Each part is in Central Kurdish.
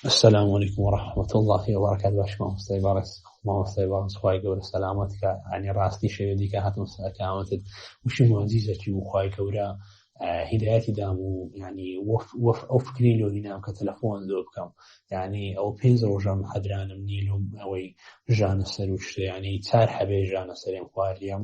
السلام علیکم و رحمت الله و برکات باش مامۆستای بارس مامۆستای بارس خوای گەورە سەلامەت کە ئەنی ڕاستی شەوێ دیکە هاتم سەکامەتت وشی مۆزیزەکی و خوای گەورە هیدایەتی دام و ینی وەف ئەو فکری لۆنی نام کە تەلەفۆن زۆر بکەم ینی ئەو پێنج ڕۆژەم حەدرانم نیلم ئەوەی ژانە سەر و شتیانی چار حەبێ ژانە سەرێم خواریەم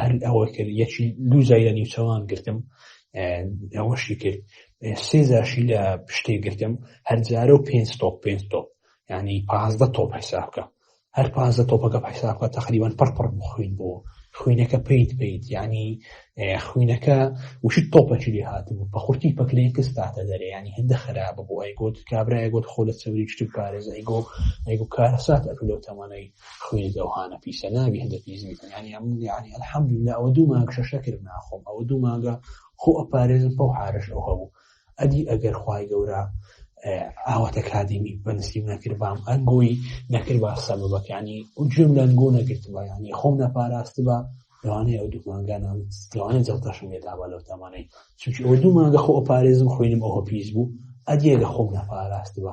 هەر ئەوە کرد یەکی دوو زایە نیوچەوان گرتم ئەوەشی کرد سێ زاشی لە پشتێ گرتم هەرجارە و پێ تۆپ پێ تۆپ ینی پازدە تۆپ حساب بکە هەر پازدە تۆپەکە حساب بکە تقریبان پڕپڕ بخوین بۆ خوینەکە پیت پیت ینی خوینەکە وشت تۆپەکی لێ هاتبوو بە خورتی پەکلێن کەستاتە دەرێ ینی هەندە خراپە بۆ ئەی گوت کابراای گوت خۆ لە چەوری شت پارێزای گۆ ئەیگو کارەسات ئەکو لەو تەمانەی خوێی دەوهانە پیسە نابی هەندە پیس بیکەنیانی ئەم یعنی الحمد لله ئەوە دوو مانگ شەشە کرد ناخۆم ئەوە دوو مانگە خۆ ئەپارێزم پەو حارش ئەو هەبوو ئەدی ئەگەر خی گەورە ئاواتە کادیمی بەنسیم نەکرد بام ئەنگۆی نەکرد با سەبەکانی و جوێم لەنگۆ نەگرتبا ینی خۆم نەپاراست بە لەوانەیە ئەو دوومانگانان لەوانە جڵتەشم لێداوا لەو تامانەی چونکی ئەو دوومانگە خۆ پارێزم خوێنم ئەوە پیس بوو ئەدیێگە خۆم نەپاراست بە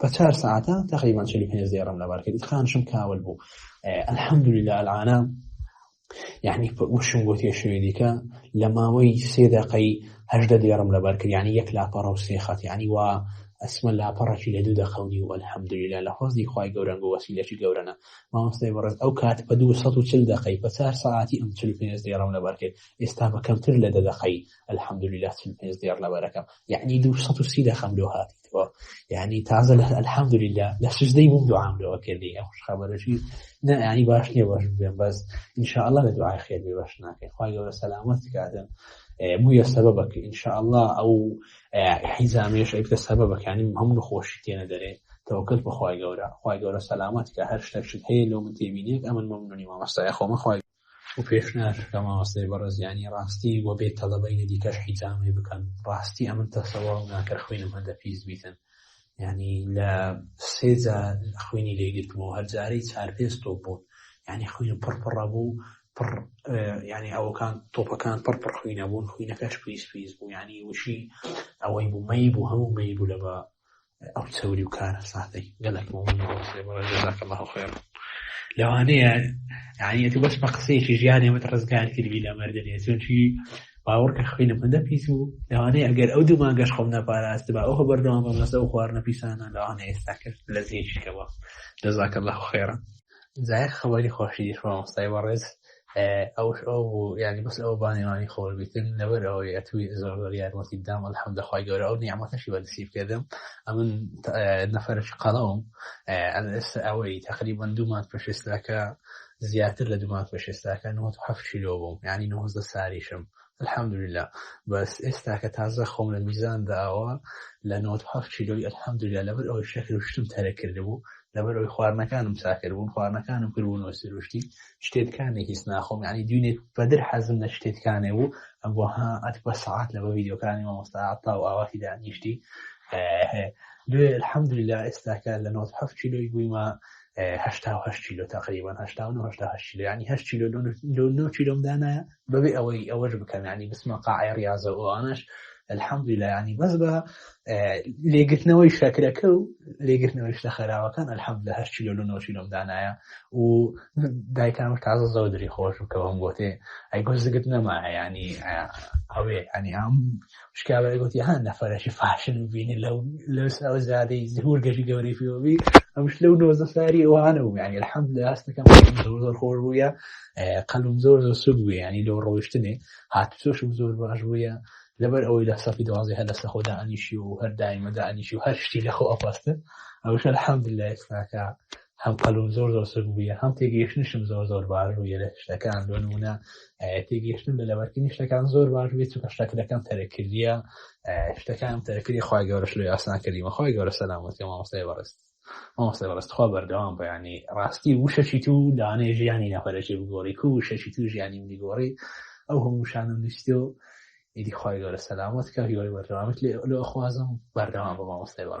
بە چار ساعتە تقریبان چلی پێنج دێڕم لەبار کرد خانشم کاول بوو الحمدلله العاە یعنی وشم بۆ تێشوێ دیکە لە ماوەی سێ دقی هەشدە دێڕم لەبار کرد ینی یەک لاپەڕە و سێ خەت ینی وا ئەسمە لاپەڕەکی لە دوو دەخەونی و الحمدلله لە حۆزی خی گەورەنگ و وەسیلەکی گەورەە مامۆستای بەڕێت ئەو کات بە 240 دقی پە چار ساعتی ئەم چل پێ دێڕم لەبار کرد ئێستا بە کەمتر لە دە دقی الحمدلله چل پێ دێڕ لەبارەکەم یعنی 230 دەخەم لۆ هاتی یعنی تازە لە الحەمدللا لە سزدەی بووم دوام لەوە کردی ئەو خبرەشی نە ینی باش نیە باش بێن بەس انشاءله لە دوعای خێر بێ باش ناکەین خخوای گەورە سەلامەت کاتن بووە سەبە بەکە انشاءله ئەو حیزامێش ئەیکتە سەبە بەکانی هەموو خۆشی تێنە دەرێت تەوکل بەخوای گەورە خخوای گەورە سەلامەت کە هەر شتەکشت هەیە لەو من تێبینێت ئەمن مەمنونی مامەستای خۆمە خخوای و پێش ناکە مامەستای بەڕێزیانی ڕاستی وە بێ تەلەبەینە دیکەش حیجامی بکەن ڕاستی ئەمن تەسەوە ناکە خوێنم هەندە پیس بیتن ینی لە سێجا خوێنی لێگرتمەوە هەرجارەی چار پێست تۆ بوون ینی خوێن پڕپڕە بوو پڕ ینی ئەوکان تۆپەکان پڕ پڕ خوینە بوون خوینەکەش پیس پیس بوو ینی وشی ئەوەی بوو مەی بوو هەموو مەی بوو لە بە ئەو چەوری و کارە ساتەی گەلک لەوانەیە یانەتی بەس بە قسەیەکی ژیانی وت ڕزگار کردی لە مردنێ چونکی باوەڕکە خوێنە بەندە پیس و لەوانەیە ئەگەر ئەو دوو ماگەش خۆم نەپاراست بە ئەوە بەردەوام بەم لەسە و خواردنە پیسانە لەوانە ئێستا کرد لە زیێکەوە دەزاکە لە خێرە زایەک خەبەری خۆشی دیش مامۆستای بەڕێز ئەوش ئەو بوو یعنی بەس ئەو بانێوانی خۆش بیتن لەبەر ئەوەی ئەتوی زۆر زۆر یارمەتی دام الحمد خی گەورە ئەو نیعممەتەشی بەنسیب کردم ئەمن نەفرش قەڵەوم ئەستا ئەوەی تقریبا دوومان پێشێستاکە زیاتر لە دوومان پێشێستاکە 97 کیلۆ بووم ینی 90 ساریشم الحمدلله بەس ئێستا کە تازە خۆم لە میزان داوە لە 97 کیلۆی الحمدلله لەبەر ئەوەی شەکروشتم تەرە کردبوو لەبەر ئەوی خواردنەکانم ساکردبوون خواردنەکانم کردبوون و سروشتی شتێتکانێک هیچ ناخۆم ینی دوینێک بەدر حەزم لە شتێتکانێ بوو ئەم بۆ ها ئەت بە سعات لە بە ویددیوکانی مامۆستا تا و ئاواتی دانیشتی دوێ الحمدللا ئێستاکە لە 97 کیلۆی بوویمە هشتا و هەشت کیلۆ تقریبان هشتا و هشتا هەشت کیلۆ ینی هەشت کیلۆ لۆ نۆ کیلۆم دانایە بەبێ ئەوەی ئەوەش بکەم ینی بسمە قاعی ڕاضە ئەوانش الحەمدی لە ینی بەس بە لێگرتنەوەی شەکرەکە و لێگرتنەوەی شتە خەراوەکان الحەمد لە هەشت کیلۆ لە نۆ کیلۆم دانایە و دایکان تازە زەودری خۆش بکەوەم گۆتێ ئەی گۆزگت نەما ینی ئەوێ ئەنی هەم شکاوەی گوتی ها نەفرەشی فاشل بینی لەو لەو ساوە زیادەی زهور گەژی گەوری فیۆبی ئەمش لەو نۆزە ساری ئەوانە و یعنی الحمد لله ئەستەکەم زۆر زۆر خۆش بووە قەلم زۆر زۆر سوود بوو ینی لەو ڕۆیشتنێ هاتوچۆشم زۆر باش بووە لەبەر ئەوەی لە سەفی دوازی هەر لەسە خۆدا ئەنیشی و هەر دایمەدا ئەنیشی و هەر شتی لە خۆ ئەپاستن ئەوش الحمد لله ئێستاکە هەم قەلوم زۆر زۆر سک بووە هەم تێگەیشتنشم زۆر زۆر باش بووە لە شتەکان بۆ نمونە تێگەیشتن لە لەبەرکردنی شتەکان زۆر باش بێت چونکە شتەکەەکەم تەرەکردە شتەکان تەرەکردی خخوای گەورەش لە یاسان کردیمە خخوای گەورە سەلامەتی مامۆستای بەڕست مامۆستای بەڕستخوا بەردەوام بەیانی ڕاستی وشەچی تو دانێ ژیانی نەپەرەێ بگۆڕی کو وشەچی تو ژیانی منی گۆڕی ئەو هەموو شانم نووسیۆ ئیدی خخوای گەورە سەلامەت کە هیوای بەردەوامت لێ لە خوازم بەردەوام بە مامۆستای بەڕ